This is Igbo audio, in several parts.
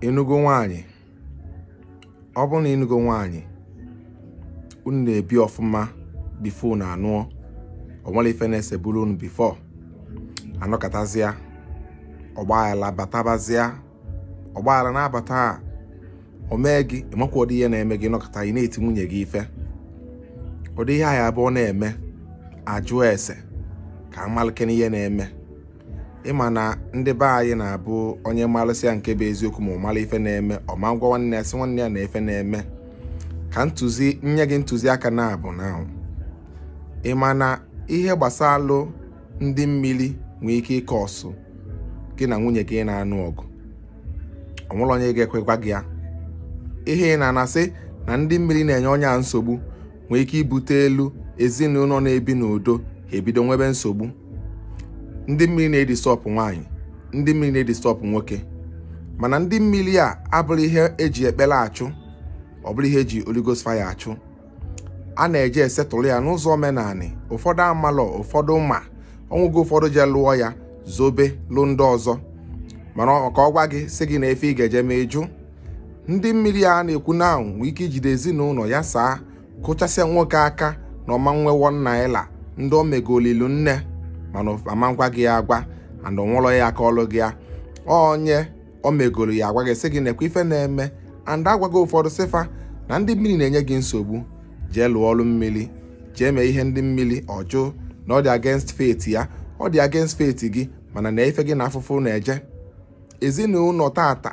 ịnụgo nwaanyị ọ bụrụ na ịnụgo nwaanyị unu na-ebi ọfụma bifo unu anụọ o nwerọ ife na-eseburu unu bifo anọkatazịa ọgbaghara batabazịa ọgbaghara na-abata a o mee gị ịmakwa ụdị ihe na-eme gị ị nọkata ị na-eti nwunye gị ife ụdị ihe a ya bụ na-eme ajụọ ese ka amalikene ihe na-eme ịma na ndị be anyị na-abụ onye malụsịa nke bụ eziokwu ma ọ mara ife na-eme ọ ma agwa nwanne ya sị nwanne ya na ife na-eme ka nye gị ntụziaka na-abụ na ịma na ihe gbasalụ ndị mmiri nwee ike ịkọọsụ gị na nwunye gị na-anụ ọgụ o nwerọ onye ga-ekwe gwa gị ya ihe ị na-anụ a sị na ndị mmiri na-enye onye a nsogbu nwere ike ibutelu ezinụlọ na-ebi n'udo ha ebido nwebe nsogbu ndị mmiri na-edistọbụ nwaanyị ndị mmiri na-edistọbụ nwoke mana ndị mmiri a abụrọ ihe eji ekpere achụ ọ bụrọ ihe eji Holy Ghost fire achụ a na-eje esetụlụ ya n'ụzọ omenanị ụfọdụ amalọ ụfọdụ ma o nwega ụfọdụ je lụọ ya zobelụ ndị ọzọ mana ka ọ gwa gị sị gị nee ife ị ga-eje mee ịjụ ndị mmiri a na-ekwu na ahụ nwee ike ijide ezinụlọ yasaa kụchasịa nwoke aka na ọ ma nwe one naira ndị o megolu elinne mana a ma agwa gị ya agwa and o nwelọ ya akọlụ gị ya onye o megolu ya agwa gị sị gị nekwa ife na-eme and agwaga ụfọdụ sị fa na ndị mmiri na-enye gị nsogbu jee lụọ ọlụ mmiri jee mee ihe ndị mmiri ọ jụ na ọ dị against faith ya ọ dị against faith gị mana na ife gị na afụfụ na-eje ezinụlọ tata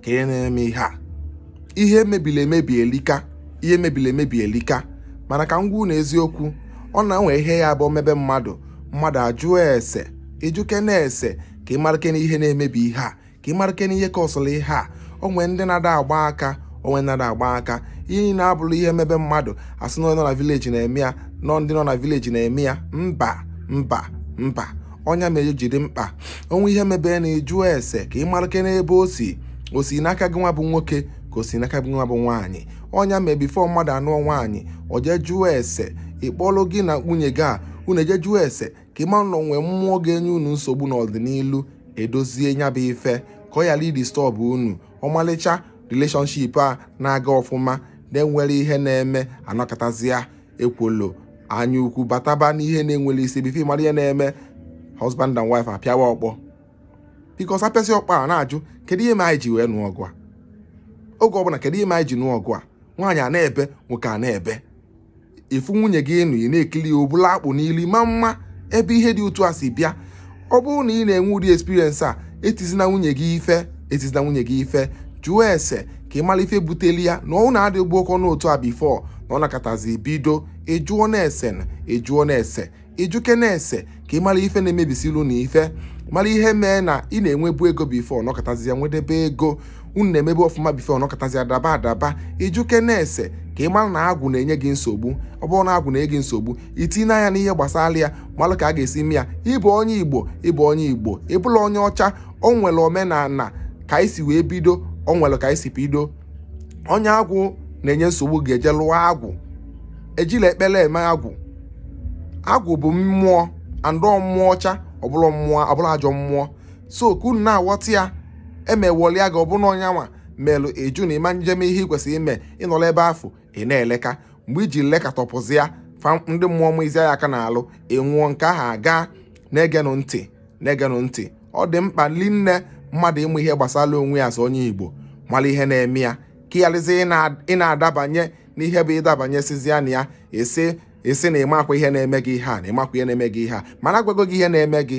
kedu ihe na-eme ihe a ihe mebiri emebi elika ihe mebiri emebi elika mana ka m gwa unu eziokwu ọ na-enwe ihe ya bụ mebe mmadụ mmadụ ajụọ ese ịjụkene ese ka ị marakene ihe na-emebi ihe a ka ị marakene ihe kọọsụrụ ihe a o nwe ndị na-ada agba aka o nwe ndị na-ada agba aka ihe niile abụrọ ihe mebe mmadụ asị na onye nọ na vileji na-eme ya na ọ ndị nọ na vileji na-eme ya mba mba mba ọ nya mere o ji dị mkpa o nwe ihe mebe na ịjụọ ese ka ị marakene ebe o si o si n'aka gị nwa bụ nwoke ka o si n'aka gị nwa bụ nwaanyị ọ nya mee bifo mmadụ anụọ nwaanyị o jee jụọ ese ịkpọlụ gị na nwunye gị a unu eje jụọ ese ka ị mara na o nwe mmụọ ga-enye unu nsogbu n'ọdịnihu edozie nya bụ ife ka ọ ghara idistọbụ unu ọmalịcha relationship a na-aga ọfụma na-enwerọ ihe na-eme anọkatazịa ekwolo anya ukwu bataba n'ihe na-enwerọ isi bifo amara ihe na-eme husband and wife apịawa ọkpọ bikos apịasịa ọkpọ a na-ajụ kedu ihe mere anyị ji wee nụọ ọgụ a oge ọbụla kedu ihe mere anyị ji nụọ ọgụ a nwaanyị a na-ebe nwoke a na-ebe ị fụ nwunye gị ịnụ ị na-ekili obu alakpu n'ili ị ma ama ebe ihe dị otu a si bịa ọ bụrụ na ị na-enwe ụdị experience a etizina nwunye gị ife etizina nwunye gị ife jụọ ese ka ị mara ife buteli ya na ọ na-adịgbu ọkọ n'otu a before unu anọkọtazi bido ịjụọ na-ese na ịjụọ na-ese ị jụkene ese ka ị mara ife na-emebisili unu ife mara ihe mee na ị na-enwebu ego before unu anọkọtazia i nwedebe ego unu na-emebu ọfụma before unu anọkọtazi adaba adaba ị jụkene ese ka ị mara na agwụ na-enye gị nsogbu ọ bụrụ na agwụ na-enye gị nsogbu i tinye anya n'ihe gbasara ya malụ ka a ga-esi mee ya ị bụ onye igbo ị bụ onye igbo ị bụrọ onye ọcha o nwere omenala ka anyị si wee bido o nwere ka anyị si bido onye agwụ na-enye nsogbu ga-eje lụọ agwụ ejirọ ekpere eme agwụ agwụ bụ mmụọ and mmụọ ọcha ọ bụrọ mmụọ ọ bụrọ ajọ mmụọ so ka unu na-aghọta ya emewọlịa gị ọ bụ na onye nwa melụ ị jụ na ị ma eje mee ihe ị kwesịrị ime ị nọrọ ebe afụ ị na-eleka mgbe i ji lekatapụzịa fa ndị mmụọ ma izi ya aka n'alụ ị nwụọ nke ahụ agaa na-egenụ ntị na-egenụ ntị ọ dị mkpa rinne mmadụ ịmụ ihe gbasara onwe ya as onye igbo mara ihe na-eme ya ka ị gharazi ị na-adabanye n'ihe mgbe ị dabanyesịzịa na ya ị sị ị sị na ị makwa ihe na-eme gị ihe a na ị makwa ihe na-eme gị ihe a mana agwago gị ihe na-eme gị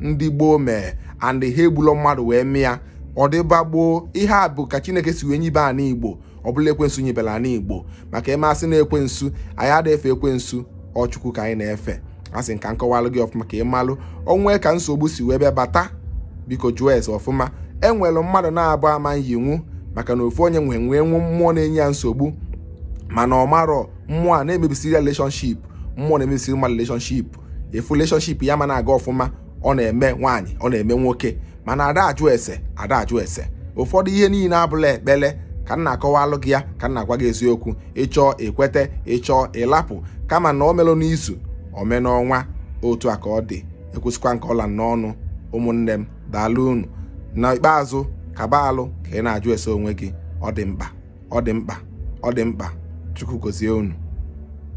ndị gboo mee and ha egburọ mmadụ wee mee ya ọ dịba gboo ihe a bụ ka chineke si wee nyibe ana igbo ọ bụrọ ekwensu nyibere ana igbo maka ị ma-asị na ekwensu anyị ada efe ekwensu ọ chukwu ka anyị na-efe asị m ka m kọwalụ gị ọfụma ka ị malụ o nwee ka nsogbu si wee bịa bata biko jụọ ese ọfụma e nwere mmadụ naabọ ama nyinwu maka na ofu onye nwe nwee nwụ mmụọ na-enye ya nsogbu mana ọ marọ mmụọ a na-emebisiri relationship mmụọ na-emebisiri mmadụ relationship ị fụ relationship ya ama na-aga ọfụma ọ na-eme nwaanyị ọ na-eme nwoke mana ada ajụ ese ada ajụ ese ụfọdụ ihe niile abụrọ ekpele ka m na-akọwalụ gị ya ka m na-agwa gị eziokwu ị chọọ i kwete ị chọọ ị lapụ kama na o merọ n'izu o mee n'ọnwa otu a ka ọ dị ekwusikwa m ka ọ ra m n'ọnụ ụmụnne m daalụ unu na ikpeazụ kaba alụ ka ị na-ajụ ese onwe gị ọ dị mkpa ọ dị mkpa ọ dị mkpa chukwu gozie unu